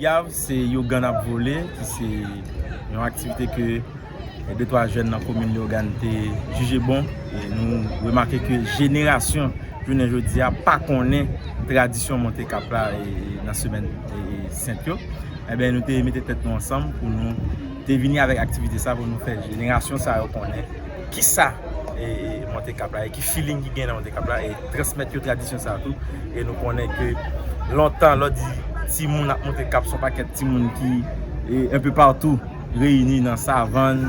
Yav se you gann ap vole ki se yon aktivite ke de twa jèn nan komin Leogane te jije bon e nou remake ke jenerasyon jounen jodi a pa konnen tradisyon monte kap la nan semèn sent yo enben nou te mete tèt nou ansanm pou nou te vini avèk aktivite sa pou nou fè jenerasyon sa yo konnen. kisa monte kap la e ki feeling ki gen nan monte kap la e transmèt yo tradisyon sa tou e nou konnen ke lontan lò di timoun ap monte kap son pakèt timoun ki enpe partou reyini nan savann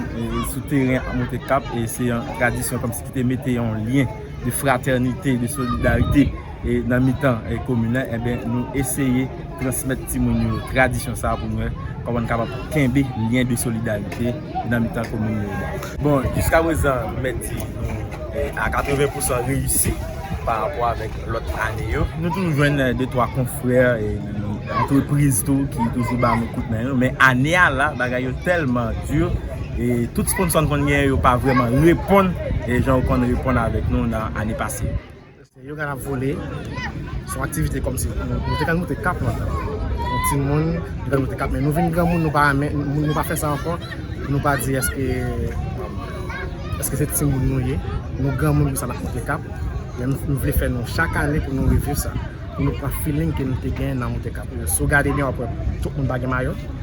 sou teren ap monte kap e se yon tradisyon kòmsi ki te mete yon lyen de fratènite, de solidarite. nan mitan komin nan, enben nou eseye transmèt timoun yo tradisyon sa pou nou kòman nou kapab kenbe lyen de solidarite nan mitan komin nou yo. Bon, jiska prezan m mèt di nou a 80 pousan reyisi pa rapò avèk lòt ane yo. Nou toujou jwenn de twa konfrè antrepriz tou ki toujou ba nou kout men yo, men ane a la bagay yo tèlman di, tout sponsò n konn genyen yo pa vrèman reponn jan yo konn reponn avèk nou nan ane pase. Se yoga nap vole son aktivite komsi nou te ka moute kap lan nou ti moun nou te ka moute kap men nou vin granmoun nou pa renmen nou pa fè sa ankò pou nou pa di eske eske se ti moun nou ye nou granmoun pou sa nap moute kap men nou vle fè nou chak ane pou nou reviv sa pou nou pran feeling ke nou te gen nan moute kap sou gade byen wap wè tout moun pa gen mayo.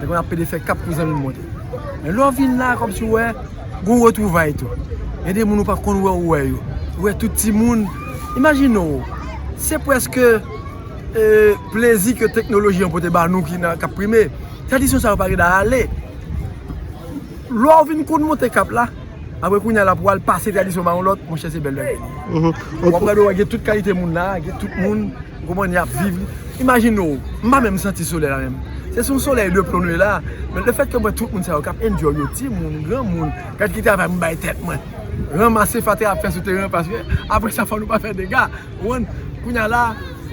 Lè konn ap pede fè kap pou zanmi monte. Men lè w vin la kòmsi w wè gon retwouvay tou. Gen de moun ou pa konn wè ou wè yo. Ou wè tout timoun. Imajine w, se pwèske plezi ke teknoloji an pote ba nou ki nan kap prime. Tradisyon sa yo pa gen da ale. Lè w vin konn monte kap la. Apre kounya la pou al pase tradisyon ba yon lòt, monchè se bèl bagay li ye. Ou ap gade wè gen tout kalite moun la, gen tout moun, ou konprann, y ap viv. Imajine w, m pa menm santi solèy la menm. Se sou yon solèy de plon nou ye la. Men le fèt ke m wè tout moun sa yo k ap enjoy yo, timoun, granmoun, gad ki travay m bay tèt mwen. Ranmase fatra y ap fè sou teren an paske apre sa fò nou pa fè dega, ou konprann. Kounya la,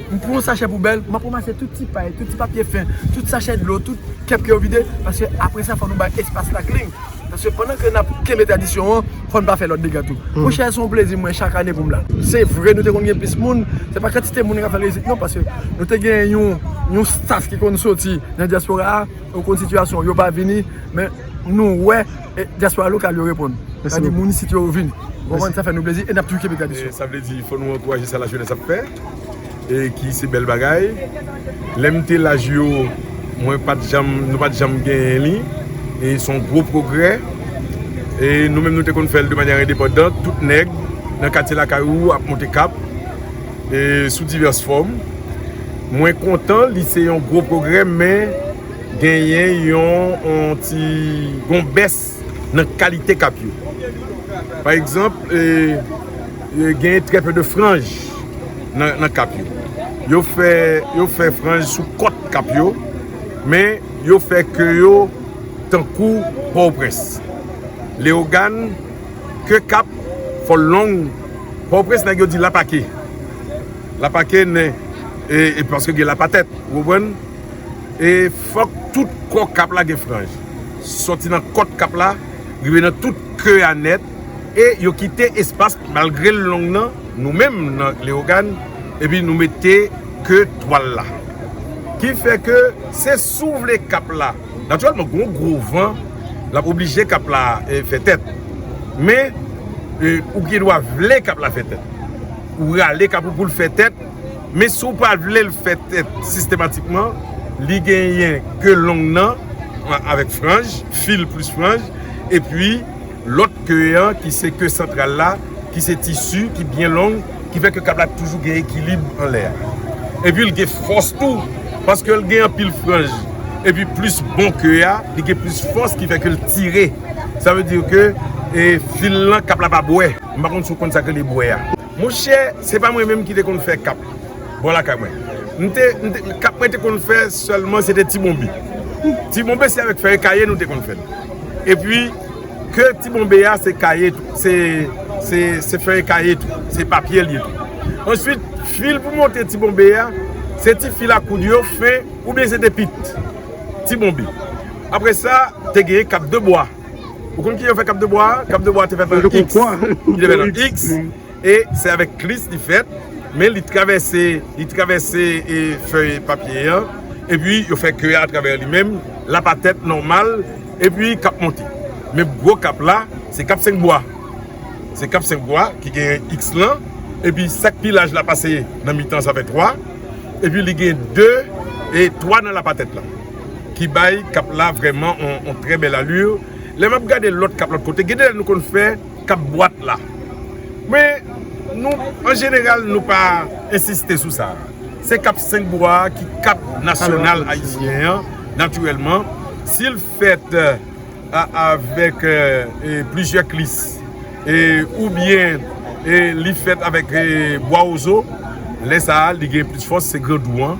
m pran yon sachè poubèl, m ap ranmase tout ti pay, tout ti papye fen, tout sachè dlo, tout kèp ke yo vide paske apre sa fò nou bay espas la klin. Paske pandan ke nap kenbe tradisyon an, fò n pa fè lòt dega tou. Monchè, se yon plezi mwen chak ane pou m la. Se vre nou te konn gen plis moun, se pa kantite moun ki ap fè reyizit non, paske nou te gen yon staff ki konn soti nan dyaspora a, ou konn sitiyasyon, yo pa vini, men nou wè dyaspora lokal yo reponn. Sa di moun isit yo vini. Ou konprann? Sa fè nou plezi e nap toujou kenbe tradisyon. Sa vle di fò nou ankouraje sa lajenès ap fè. e ki se bèl bagay lèm te laj yo mwen pat janm nou pat janm genyen li e son gwo pwogrè e nou menm nou te konn fèl de manyan endepandant tout nèg nan katye lakay ou ap monte kap e sou divès fòm mwen kontan li se yon gwo pwogrè men genyen yon yon ti gon bès nan kalite kap yo. Pa egzanp, genyen trè pe de franj nan kap yo. Yo fè franj sou kòt kap yo, men yo fè ke yo tankou Pòtoprens. Leyogàn, ke kap, fòl long. Pòtoprens nèg yo di lapake. Lapake nen, e paske gen lapatèt, ou konprann? E fòk tout kò kap la gen franj. Sòti nan kòt kap la rive nan tout ke a nèt e yo kite espas malgre l long nan nou menm nan Leyogàn epi nou mete ke twal la. Ki fè ke se souvle kap la. Natirèlman gon gwo van lap oblije kap la fè tèt. Men ou gen dwa vle kap la fè tèt. Ou rale kap ou pou l fè tèt. Men si w pa vle l fèt sistematikman, li genyen ke long nan avèk franj, fil plis franj, epi lòt ke an ki se ke santral la ki se tisi ki byen long ki fè ke kab la toujou gen ekilib anlè a. Epi l gen fòs tou, paske l gen anpil franj, epi plis bon ke a, li gen plis fòs ki fè ke l tire. Sa vle di ke fil lan kab la pa bwè. M pa konn si w konn sa k rele bwè a. Monchè, se pa mwen menm ki te konn fè kap bò lakay mwen. M te, m te, kap mwen te konn fè sèlman se te ti bonbe. Ti bonbe se avèk fèy kaye nou te konn fè l. E pi, ke ti bonbe a se kaye tou, se, se, se fèy kaye tou, se papye l ye tou. Answit, fil pou monte ti bonbe a, se ti fil a koud yo fen, oubyen se te pit ti bonbe. Apre sa, te genyen kap de bwa. Ou konn ki yo fè kap de bwa? Kap de bwa te fèt nan X. Ki te fèt nan X. E se avèk klis li fèt. Men li travèse, li travèse e fèy papye an. E pi yo fè kè a travè li menm. Lap a tèt nòmal. E pi kap monte. Men gwo kap la, se kap 5 bwa. Se kap 5 bwa ki gen X lan. E pi sak pi laj la pase nan mitan sa fè 3. E pi li gen 2 e 3 nan lap a tèt la. ki bay kap la vrèman yon trè bèl allure lè map gade lòt kap lòt kote gen de lè nou konn fè kap bwat la men nou an jeneral nou pa ensiste sou sa se kap 5 bwa ki kap nasyonal ayisyen an natirèlman sil fèt avèk plizyè klis ou byen li fèt avèk bwa ozo lè sa li gen plis fòs se grandou an.